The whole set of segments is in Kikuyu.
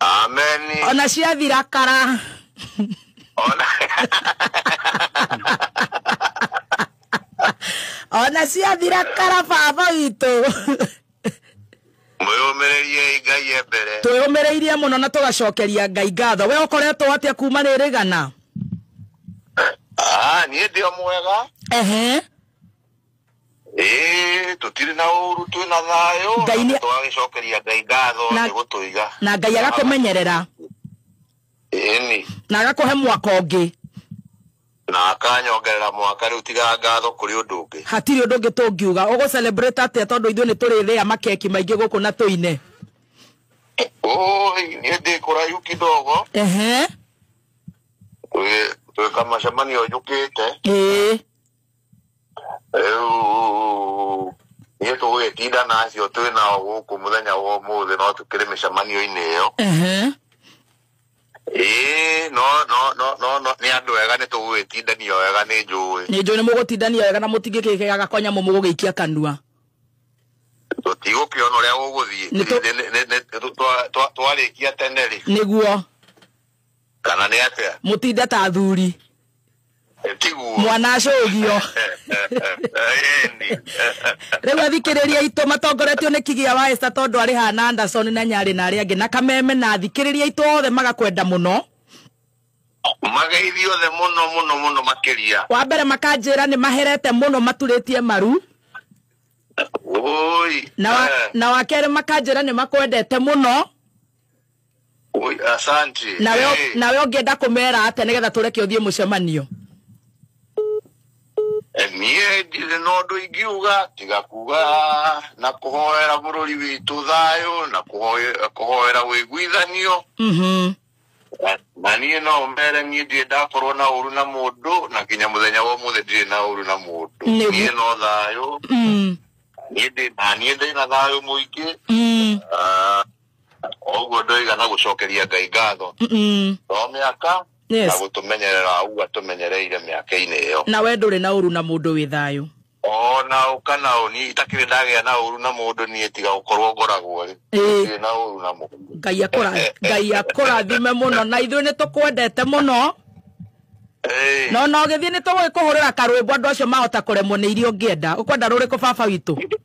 ameni ona ciathira kara ona ona ciathira kara baba witå mwĩyũmĩrĩriei ngai e mbere twä mä rä irie må no na tå gacokeria ngai ngatho we å koretwo atä a kuma rä rä gana Ah, niĩ ndĩo mwega ehe ĩĩ tũtirĩ na ũru twĩ na thayũ Ngai na nĩ- tũgagĩcokeria ngai ngatho Na- nĩ gũtũiga na ngai agakũmenyerera ĩni na agakũhe mwaka ũngĩ na akanyongerera mwaka rĩu tiga ngatho kũrĩ ũndũ ũngĩ hatirĩ ũndũ ũngĩ tũngiuga ũgũ celebrate atĩa tondũ ithuĩ nĩ tũrĩrĩa makeki maingĩ gũkũ na tũine oi niĩ ndĩ kũraihu kidogo ehe twĩ- twĩka macemanio njũkĩte ĩĩ rĩu niĩ tũgũgĩtinda na acio twĩ nao gũkũ mũthenya wa ũmũthĩ no tũkĩrĩ mĩcemanio-inĩ ĩyo Ehe. ĩĩ no no no no no nĩ andũ ega nĩ tũgũgĩtindania wega nĩ njũĩ nä njå nä må gå tindania wega na må tingä kä gega kwa nyamå må gå gä ikia kanua tũtigũkĩona ũrĩa gũgũthiĩ Nĩ tũ- twarĩkia tene rĩ nä guo kana nĩ atĩa mũtinde ta athuri tiguo mwana acũgio rĩu athikĩrĩria itũ matongoretio nĩ kigia wa esta tondũ arĩ hana anderson na nyarĩ na arĩa angĩ na kameme na athikĩrĩria itũ othe magakwenda mũno mageithio othe mũno mũno mũno makĩria wa mbere makanjĩra nĩ maherete mũno maturĩtie maru na wa, eh. na wa kerĩ makanjĩra nĩ makwendete mũno Oi, asante nawe Eh, nawe ũngĩenda kũmera atĩa nĩgetha tũreke ũthiĩ mũcemanio eh, niĩ ndirĩ na ũndũ ingiuga tiga kuga na kũhoera bũrũri witũ thayũ na kũhoe- kũhoera wĩiguithanio Mhm. Na- na niĩ no mere niĩ ndirĩ ndakorwo na ũru na mũndũ na nginya mũthenya wa ũmũthĩ ndirĩ na ũru na mũndũ Nĩgu- niĩ no thayũ Mm, niĩ ndĩ- na niĩ ndĩ na thayũ mũingĩ mm. Ah, koguo ndoiga na gũcokeria ngai ngatho Mm-mm. no mĩaka Yes. na gũtũmenyerera ũguo atũmenyereire mĩaka-inĩ ĩyo na we ndũrĩ na ũru na mũndũ wĩ thayũ ona ũka na ũni itakĩrĩ ndagĩa na ũru na mũndũ niĩ tiga gũkorwo ngoragwo rĩ Ĩĩ. ndirĩ na ũru na mũndũ ngai akũra- ngai akũrathime mũno na ithuĩ nĩ tũkwendete mũno Ĩĩ. no no gĩthiĩ nĩ tũgũgĩkũhũrĩra karwĩmbo andũ acio mahota kũremwo nĩ iria ũngĩenda ũkwenda rũrĩkũ baba witũ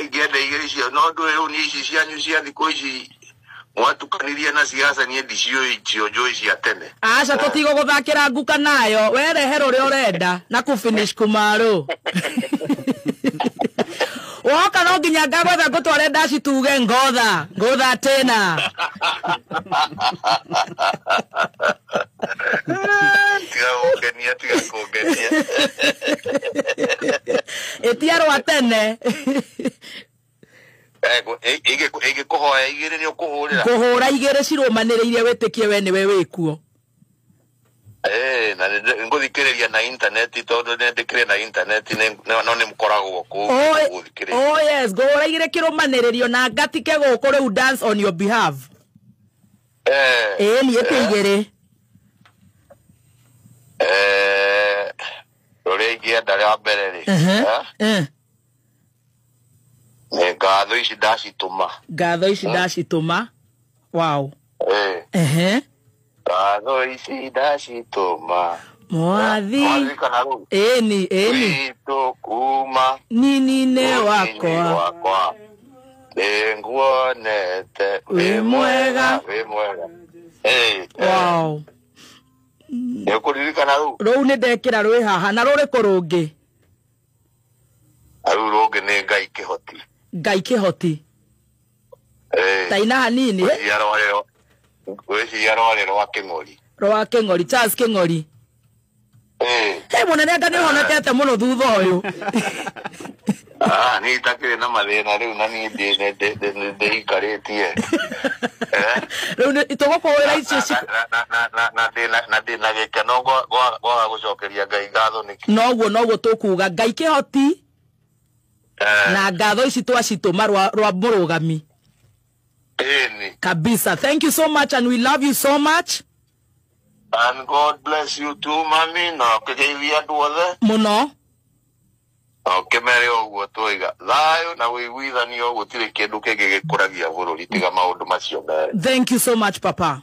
ingĩenda irio icio no ndũĩ rĩu niĩ ici cianyu cia thikũ ici mwatukanirie na siasa niĩ ndiciũĩ icio njũĩ cia tene aca tũtigũgũthakĩra nguka nayo werehe rũrĩa ũrenda na kũfinish kumarũ woka no nginya ngagwetha ngũtware ndaci tuge ngotha ngũtha tena tiga kũngenia tiga kũngenia ĩtia rwa tene ĩngĩkũhoya igĩrĩ nĩ ũkũhũrĩra kũhũra igĩrĩ cirũmanĩrĩire wĩtĩkie we nĩwe wĩkuo na ngũthikĩrĩria na intaneti tondũ nĩndĩkĩrĩ na intaneti no nĩ mkoragwo kũu gũthikĩrĩria oh yes ngũhũra igĩrĩ kĩrũmanĩrĩrio na ngatike gũkũ rĩu dance on your behalf ĩni ĩtĩ igĩrĩ rũrĩa ingĩenda rĩa mbere rĩ nĩ ngatho ici ndacitũma ngatho ici ndacitũma wow ngatho ici ndacitũma mwathi ĩni ĩni witũ kuma nini-inĩ wakwa Nĩ nguonete Wĩ wĩ mwega. mwega wĩ mwega Hey, wow nĩ ũkũririkana rĩu rũu nĩ ndekĩra rwĩ haha na rũrĩkũ rũngĩ rĩu rũngĩ nĩ ngai kĩhoti ngai kĩhoti Hey, taina hanini eh? rũciaro rĩo rũciaro rĩ rwa kĩng'ori rwa kĩng'ori charles kĩng'ori he må nene anga nä honekete må no thutha å yå Ah, ni itakire na mathina riu na ni ndi ndi- ndi- ndi- ndi- ndiikaritie Eh? rä u tå gå kå hå ra icio ci- Na- na- na- na- na ndĩ na- na ndĩ na gĩkeno gwa- gwa- gwaga gũcokeria ngai ngatho nĩkĩ noguo noguo tå kuga ngai kä hoti Eh, na ngatho ici twacitå ma rwa må rå gami Amen. kabisa thank you so much and we love you so much And God bless you too, mami, na ũkĩgeithia andũ othe. mũno Na ũkĩmere o ũguo twaiga. Thayũ na wĩiguithanio gũtirĩ kĩndũ kĩngĩ gĩkũragia bũrũri tiga maũndũ macio merĩ. thank you so much papa